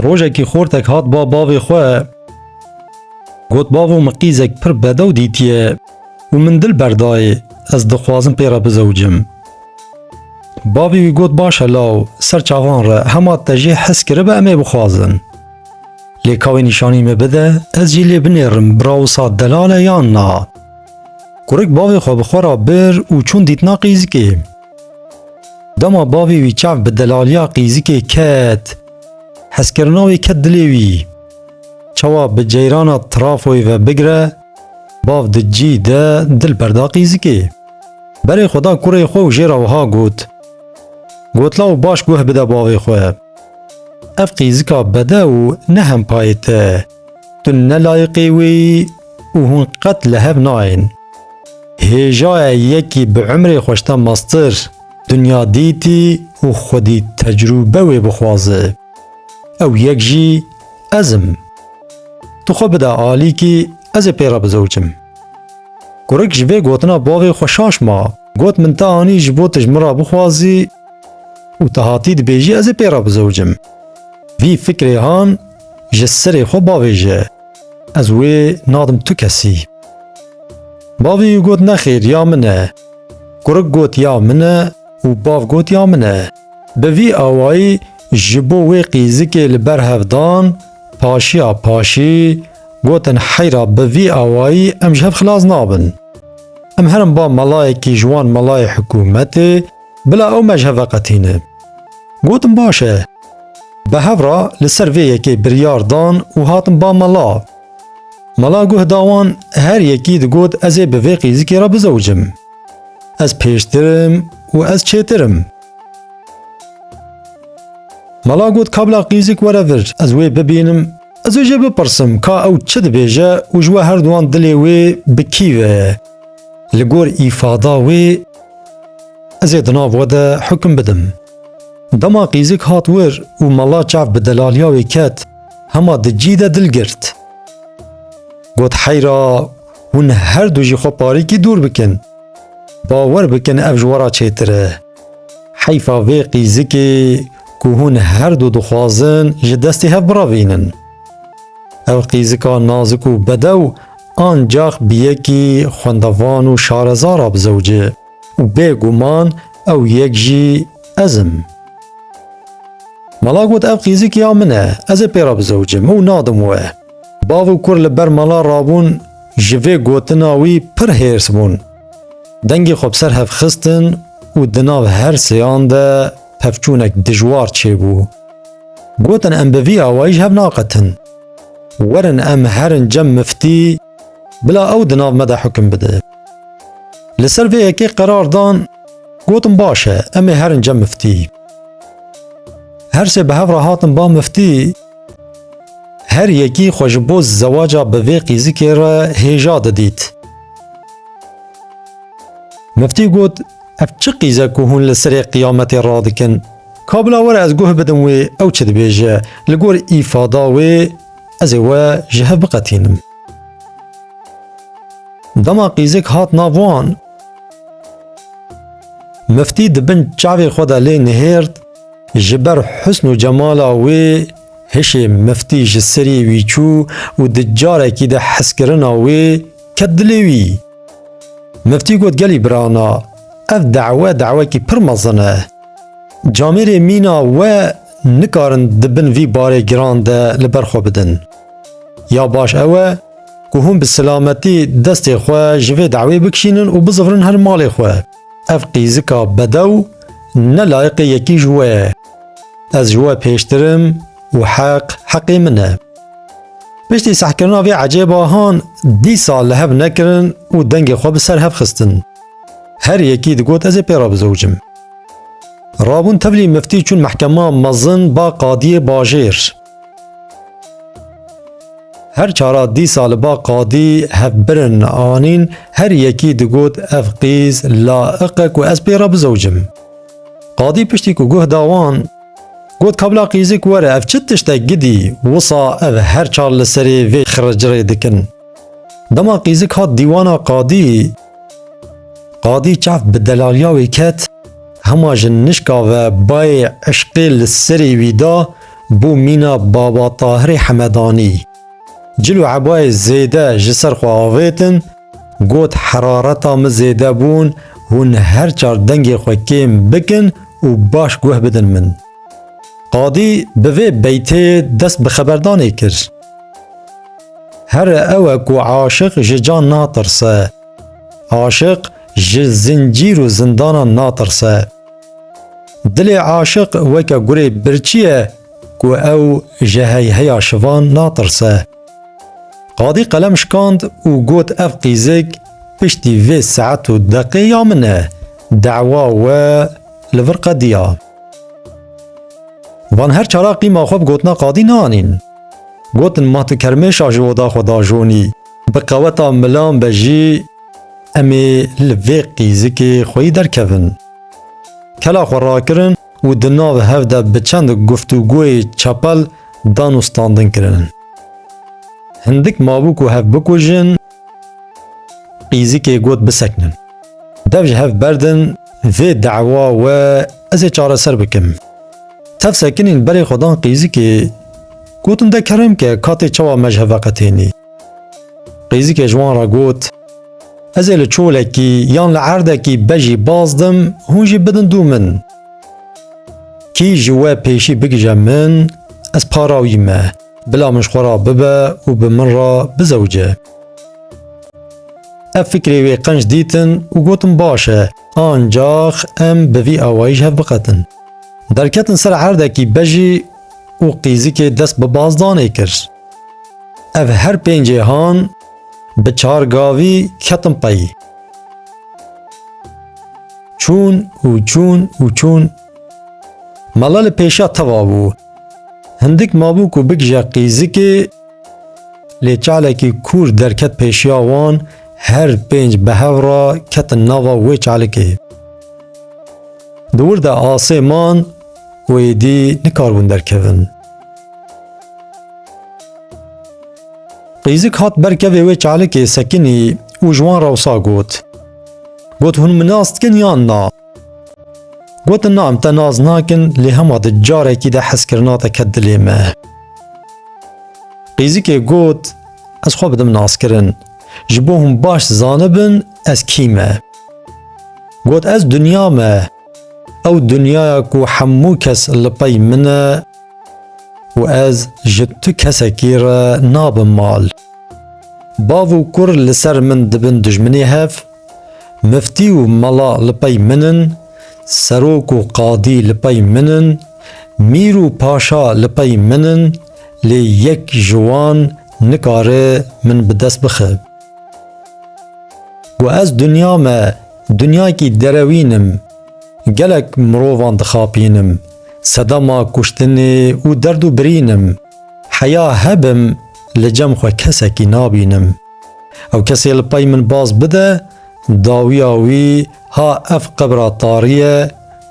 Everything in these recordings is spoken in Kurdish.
Rojekî xortek hat ba bavê xwe got bavo min qîzek pir bedew dîtiye û min dil berdayê ez dixwazim pê re bizewicim. Bavê wî got başe law ser çavan re hema te jê hez kiribe em ê bixwazin. Lê kawê nîşanî me bide ez jî lê binêrim bira wisa delal e yan na. Kurik bavê xwe bi xwe re bir û çûn dîtina qîzikê. Dema bavê wî çav bi delaliya qîzikê ket, hezkirina wê ket dilê wî. Çawa bi ceyrana trafoyê ve bigire, bav di cî de dil berda qîzikê. Berê xwe da kurê xwe û jê re wiha got, Gotla û baş guh bide bavê xwe. Ev qîzika bede û ne hempayê te. Tu ne layiqî wî û hûn qet li hev nayên. Hêjaye yekî bi umrê xwe ji te meztir dinya dîtî û xwedî tecrûbe wê bixwaze. Ew yek jî ez im. Tu xwe bide alîkî ez ê pê re bizewicim. Kurik ji vê gotina bavê xwe şaş ma. Got min te anî ji bo tu ji min re bixwazî û tu hatî dibêjî ez ê pê re bizewicim. Vî fikrê han ji sirê xwe bavêje, ez wê nadim tu kesî. Bavî got nexêr ya min e. Kurik got ya min e û bav got ya min e. Bi vî awayî ji bo wê qîzikê li ber hev dan, paşiya paşî gotin heyra bi vî awayî em ji hev xilas nabin. Em herin ba melayekî ji wan melayê hikûmetê, Bila ew me ji hev veqetîne. Gotim baş e. Bi hev re li ser vê yekê biryar dan û hatin ba mala. Mala guh da wan her yekî digot ez ê bi vê qîzikê re bizewicim. Ez pêştir im û ez çêtir im. Mala got ka bila qîzik were vir ez wê bibînim, ez ê jê bipirsim ka ew çi dibêje û ji we herduwan dilê wê bi kî ve ye. Li gor îfada wê ez ê di nav we de hukm bidim. Dema qîzik hat wir û mala çav bi delaliya wê ket, hema di cî de dil girt. Got heyra hûn her du ji xwe parîkî dûr bikin. Bawer bikin ev ji we re çêtir e. Heyfa vê qîzikê ku hûn her du dixwazin ji destê hev biravînin. Ev qîzika nazik û bedew ancax bi yekî xwendevan û şareza re bi zewcê û bê guman ew yek jî ez im. Mala got ev qîzikî ya min e, ez ê pê re bi zewcim û nadim we. Bav û kur li ber mala rabûn ji vê gotina wî pir hêrs bûn. Dengê xwe bi ser hev xistin û di nav her sêyan de pevçûnek dijwar çêbû. Gotin em bi vî awayî ji hev naqetin. Werin em herin cem miftî bila ew di nav me de hukm bide. Li ser vê yekê qerar dan gotin baş e em ê herin cem miftî. Her sê bi hev re hatin ba miftî her yekî xwe ji bo zewaca bi vê qîzikê re hêja didît. Miftî got Ev çi qîz e ku hûn li serê qiyametê radikin? Ka bila were ez guh bidim wê ew çi dibêje. Li gor îfada wê ez ê we ji hev biqetînim. Dema qîzik hat nav wan. Miftî di bin çavê xwe de lê nihêrt, ji ber husn û cemala wê hişê miftî ji serî wî çû û di carekî de heskirina wê Ket dilê wî. Miftî got gelî birana, ev dawe dawekî pir mezin e. Camêrê mîna we nikarin di bin vî barê giran de li ber xwe bidin. Ya baş ew e ku hûn bi silametî destê xwe ji vê dawê bikişînin û bizivrin her malê xwe. Ev qîzika bedew ne layiqê yekî ji we ye. Ez ji we pêştir im û heq heqê min e. Piştî sehkirina vê ecêba han dîsa li hev nekirin û dengê xwe bi ser hev xistin. Her yekî digot ez ê pê re bizewicim. Rabûn tevlî miftî çûn mehkema mezin ba qadiyê bajêr. Her çara dîsa li ba qadî hevbirin anîn her yekî digot ev qîz la iqe ku ez pê re bizewicim. Qadî piştî ku guh da wan Got kabla qîzik were ev çi tiştek gidî wisa ev her çar li serê vê xiricirê dikin. Dema qîzik hat dîwana qadî, qadî çav bi delaliya wê ket, hema ji nişka ve bayê eşqê li serê wî da bo mîna Baba Tahirê Hemedanî. Cil û ebayê zêde ji ser xwe avêtin, Got herareta min zêde bûn, hûn her çar dengê xwe kêm bikin û baş guh bidin min. Qadî bi vê beyteyê dest bi xeberdanê kir. Here ew e ku aşiq ji can natirse. Aşiq ji zincîr û zindanan natirse. Dilê aşiq weke gurê birçî ye ku ew ji heyheya şivan natirse. Qadî qelem şikand û got ev qîzik piştî vê saet û deqê ya min e, dewa we li vir qediya. Van her çara qîma xwe bi gotina qadî naanîn. Gotin ma tu kermêşa ji oda xwe dajonî, bi qeweta milan be jî em ê li vê qîzikê xweyî derkevin. Kela xwe rakirin û di nav hev de bi çend guftûgoyê çepel dan û standin kirinin. Hindik mabû ku hev bikujin, qîzikê got bisekinin. Dev ji hev berdin vê dewa we ez ê çareser bikim. Tev sekinîn berê xwe dan qîzikê, gotin de kerem ke katê çawa me ji hev veqetênî. Qêzikê ji wan re got, Ez ê li çolekî yan li erdekî bejî baz dim, hûn jî bidin dû min. Kî ji we pêşî bigije min, ez para wî me, bila min ji xwe re bibe û bi min re bizewce. Ev fikrê wê qenc dîtin û gotin baş e, ancax em bi vî awayî ji hev biqetin. Derketin ser erdekî bejî û qîzikê dest bi bazdanê kir. Ev her pêncê han bi çar gavî ketin peyî. Çûn û çûn û çûn. Mala li pêşa teva bû. Hindik mabû ku bigije qîzikê lê çalekî kûr derket pêşiya wan her pênc bi hev re ketin nava wê çalikê. Di wir de asê man û êdî nikarbûn derkevin. Qîzik hat ber kevê wê çalikê Sekinî û ji wan re wisa got. Got hûn min nas dikin yan na? Gotin na em te nas nakin lê hema di carekî de hezkirina te ket dilê me. Qîzikê got ez xwe bidim naskirin. Ji bo hûn baş zanibin ez kî me. Got ez dunya me. Ew dunyaya ku hemû kes li pey min e û ez ji tu kesekî re nabim mal. Bav û kur li ser min dibin dijminê hev, miftî û mela li pey min in, serok û qadî li pey min in, mîr û paşa li pey min in, lê yek ji wan nikare min bi dest bixe. Ku ez dinya me dinyayekî derewîn im, gelek mirovan dixapînim. Sedema kuştinê û derd û birîn im. Heya hebim li cem xwe kesekî nabînim. Ew kesê li pey min baz bide, dawiya wî ha ev qebra tarî ye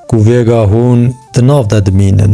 ku vêga hûn di nav de dimînin.